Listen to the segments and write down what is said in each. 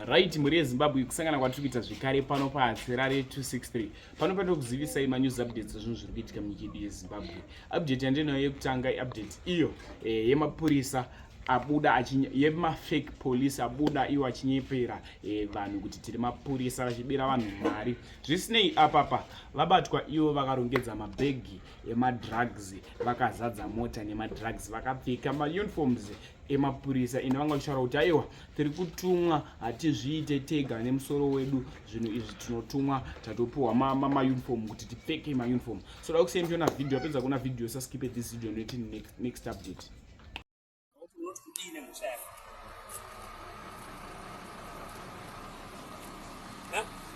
right mhuri yezimbabwe kusangana kwatiri kuita zvekare pano paatsera re263 pano panoda kuzivisai manews updates ezvinhu zviri kuitika munyika yedu yezimbabwe update yandinayo yekutanga iupdate iyo eh, yemapurisa e, abuda yemafake police abuda iwo achinyepera eh, vanhu kuti tiri mapurisa vachibira vanhu mari zvisinei apapa vabatwa ivo vakarongedza mabhegi emadrugs vakazadza mota nemadrugs vakapfeka mauniforms emapurisa ende vanga vachitaura kuti aiwa tiri kutumwa hatizviite tega nemusoro wedu zvinhu izvi tinotumwa tatopiwa mauniform kuti tipfeke mauniform so da kuseni tiona video apedza kuona video saskipe this video noti next update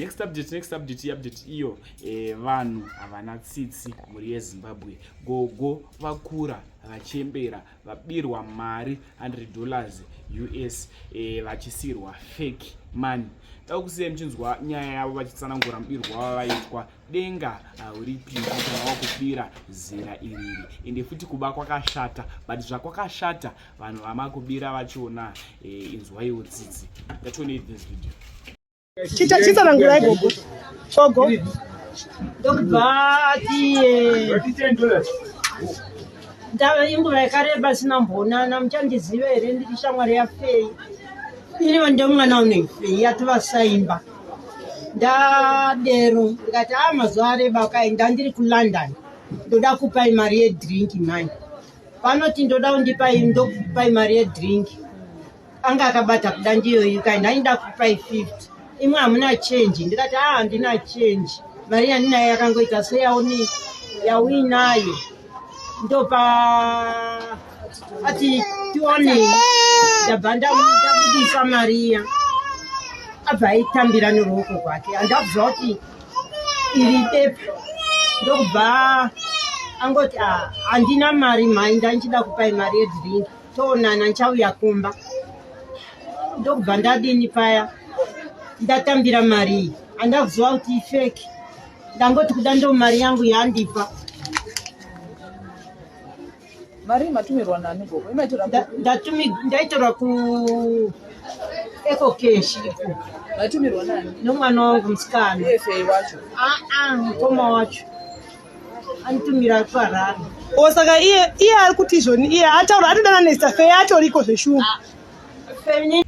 next update next update update iyo e, vanhu havana tsitsi mhuri yezimbabwe gogo vakura vachembera vabirwa mari 100 dollars us e, eh, vachisirwa fake money dau kusiya muchinzwa nyaya yavo vachitsanangura mubirwa wavaitwa denga hauripii kana wakupira zera iriri ende futi kuba kwakashata but zvakwakashata vanhu vamakubira vachiona eh, inzwaiwo tsitsi yachionei this video chita chita rangurai gogo gogo ndava inguva yakareba sina mbonana muchandiziva here ndiri shamwari yafei inivo ndomwana unefei yativasaimba ndadero ndikati a ah, mazuva areba kai ndandiri kulondon ndoda kupai mari yedrink mani vanoti ndoda undipai ndokupai mari yedrink anga akabata kuda ndiyoyi kai ndainda kupai 50 imwe hamuna change ndikati a ah, handina change mari yandinayo yakangoita seyaoni yauinayo ndopa ati tione ndabva ndabudisa mari iya abva aitambira neruoko kwake handakuziva kuti iri pepa ndokubva angoti ah, handina mari mhai ndandichida kupai mari yedringi toonana ndichauya kumba ndokubva ndadini paya ndatambira mari iyi andakuziva kuti ifeki ndangoti kuda ndo mari yangu yandipa Mari matumirwa nani gogo? Imaitora Nda- ku ndatumi ndaitora ku ekokeshi iko matumirwa nani? nomwana wangu musikana Efe wacho. aa mukoma wacho anitumira ari kuharare o saka iye iye ari kuti izvoni iye ataura atodana nesafeya atoriko zveshuwa Femini-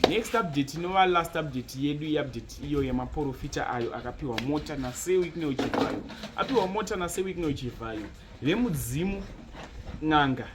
next update inova last update yedu iupdate iyo yemaporofita ayo akapiwa mota nasewicknel chivhayo apiwa mota nasewicknel chivhayo vemudzimu n'anga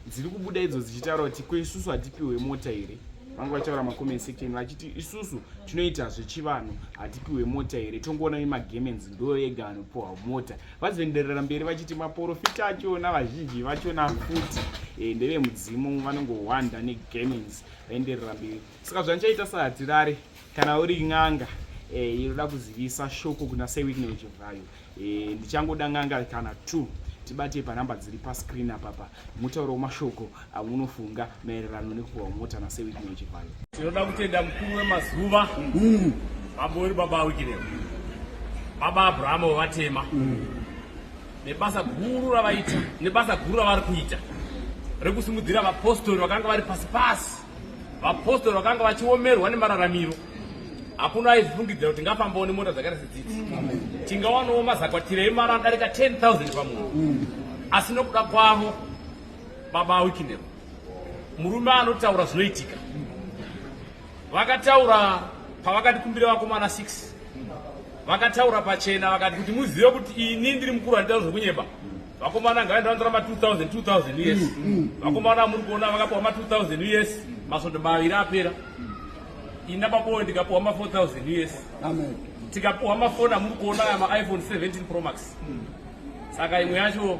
dziri kubuda idzo dzichitaura kuti ko isusu hatipiwe mota here vange vachitaura macoment section vachiti isusu tinoita zvechivanhu hatipiwe mota here tongoona vemagemenzi ndoyo ega anopiwa mota Vazoenderera mberi vachiti maporofita achona vazhinji vachona futi e, ndevemudzimu vanongohwanda negamins vaenderera mberi. Saka zvandichaita sahatirare kana uri n'anga eh, inoda kuzivisa shoko kuna sewickne wechivhayo eh, ndichangoda n'anga kana two tibate panhamba dziri pascreen apapa mutauro wemashoko amunofunga maererano nekupuhwa mota nasewitney wechivhayo tinoda kutenda mukuru wemazuva mm. baba uri baba wikireo baba abrahama wevatema mm. nebasa guru ravaita nebasa guru ravari kuita rekusimudzira vapostori vakanga vari pasi pasi vapostori vakanga vachiomerwa nemararamiro hakuna aizifungidzira kuti ngafambawo nemota dzakaita sedzidzi tingawanawo mazakwatira emaranda rika 10 000 pamunhu mm. asi nokuda kwavo Baba Wikinero, murume anotaura zvinoitika. Vakataura pavakati kumbira vakomana 6 vakataura pachena vakati kuti muzive kuti ini ndiri mukuru handitaura zvekunyeba vakomana ngavaenda vandora ma 2000 2000 yes mm, mm, mm. vakomana muri kuona vakapuwa ma 2000 yes masvondo maviri apera ina baboyo ndikapuwa ma 4000 yes tikapuwa mafoni amuri kuona aya maiphone 17 promax saka imwe yacho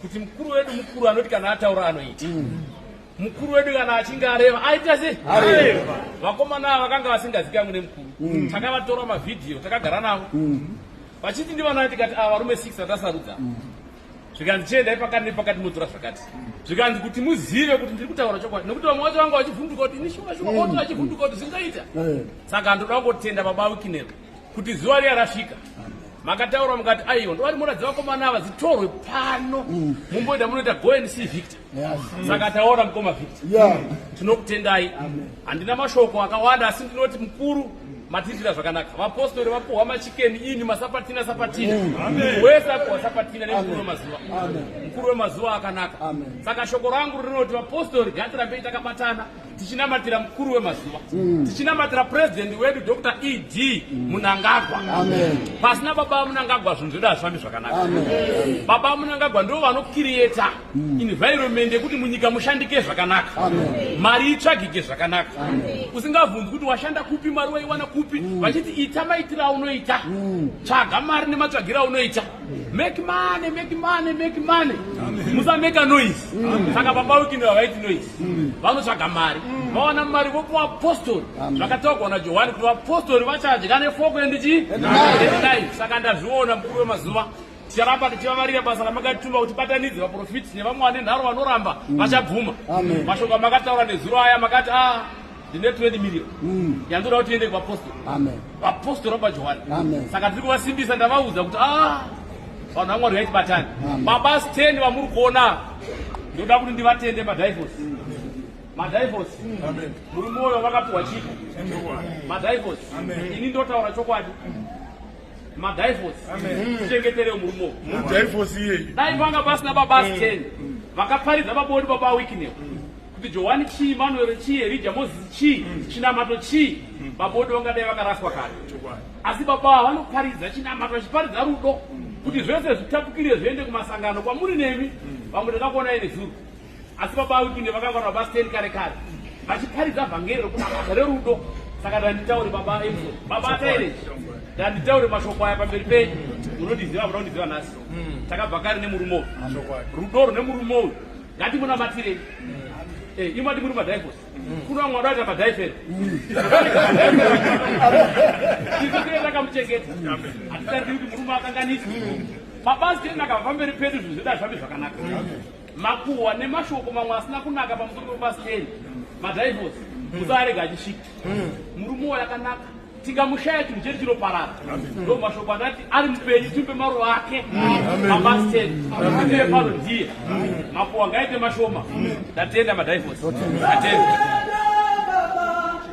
kuti mukuru wedu mukuru anoti kana ataura anoita mm. mukuru wedu kana achinge areva aita sei areva vakomana ava vakanga vasingazikamwe nemukuru mm. takavatora mavhidhiyo takagara navo mm. vachiti ndivanani tikati ava varume six vatasarudza mm. zvikanzi chiendai pakati nepakati motora zvakati zvikanzi kuti muzive kuti ndiri kutaura chokwadi nekuti vamwe vacho vanga vachivhunduka kuti ini shuwa shuwa oto achivhunduka kuti zvingaita eh. saka ndoda kungotenda baba wikinero kuti zuva riya rasvika makataura mukati aiwa ndovari muratidza vakomana ava dzitorwe pano mm. mumboita munoita go and see victor saka taona mukoma victor tinokutendai handina mashoko akawanda asi ndinoti mukuru matiitira zvakanaka vapostori vapuhwa machikeni ini masapatina sapatina mm. wese apuhwa sapatina nemukuru wemazuva mukuru wemazuva akanaka saka shoko rangu rinoti vapostori ngatirambei takabatana tichinamatira mukuru wemazuva mm. tichinamatira purezidhendi wedu dr ed mm. munangagwa pasina baba munangagwa zvinhu zvedu hazvifambi zvakanaka baba munangagwa ndo vanokiriyeta mm. environment yekuti munyika mushandike zvakanaka mari itsvagike zvakanaka usingavhunzi kuti washanda kupi mari waiwana kupi mm. vachiti ita maitira aunoita mm. tsvaga mari nematsvagira aunoita Make money, make money, make money. Musa make a noise. Saka baba wiki ndio waiti noise. Vanotsvaga mari. Vaona mari vopo apostle. Vakatoka na Johani kuti apostle vachadya ne foko and chi. Ndai saka ndazviona mkuru we mazuva. Ticharamba tichivavarira basa ramakatuma kuti batanidze vaprofiti nevamwe vane nharo vanoramba vachabvuma. Mashoko makataura nezuro aya makati ah ndine 20 million mm. yandoda kuti tiende kuvapostori vapostori vabva johani saka tiri kuvasimbisa ndavaudza kuti ah, vanhu vamwari vaiti batani baba sten vamuri kuona ndoda kuti ndivatende madivos mm. madivos muri mwoyo vakapiwa chiko madivos ini ndotaura chokwadi madhaifosi tichengeterewo murume mudhaifosi iyeyi dai panga pasina babasi mm. ten vakaparidza vaboni baba wikineo mm. kuti johani chii manuero chii erija mozisi chii mm. chinamato chii babodi vangadai vakaraswa kare asi baba ava vanoparidza chinamato vachiparidza rudo kuti zvese zvitapukire zviende kumasangano kwamuri nemi vamwe takakuonai nezuro asi baba awipinde vakangwara baba sten kare kare vachiparidza vhangeri rekuti basa rerudo saka ndanditaure baba emso baba ataire ndanditaure mashoko aya pamberi penyu munondiziva muda kundiziva nhasi hmm. takabva kare nemurume uyu rudo rune murume uyu ngatimunamatirei hmm. eh, imati muri madivosi hmm. kuno vamwe vadaita madiveri takamuchengeta hatitariii kuti murume akanganisi mabasi tena akava pamberi pedu zvinhu zvida zvavi zvakanaka makuhwa nemashoko mamwe asina kunaka pamusoro pepasiteni madhaivosi mm. musaarega achisvika mm. murume uwo yakanaka tikamushaya chinhu chedu chinoparara ndo mashoko andati ari mupenyu timbe maruva ake mapasiteni aee pano ndiye makuhwa ngaite mashoma ndatenda madhaivosi atenda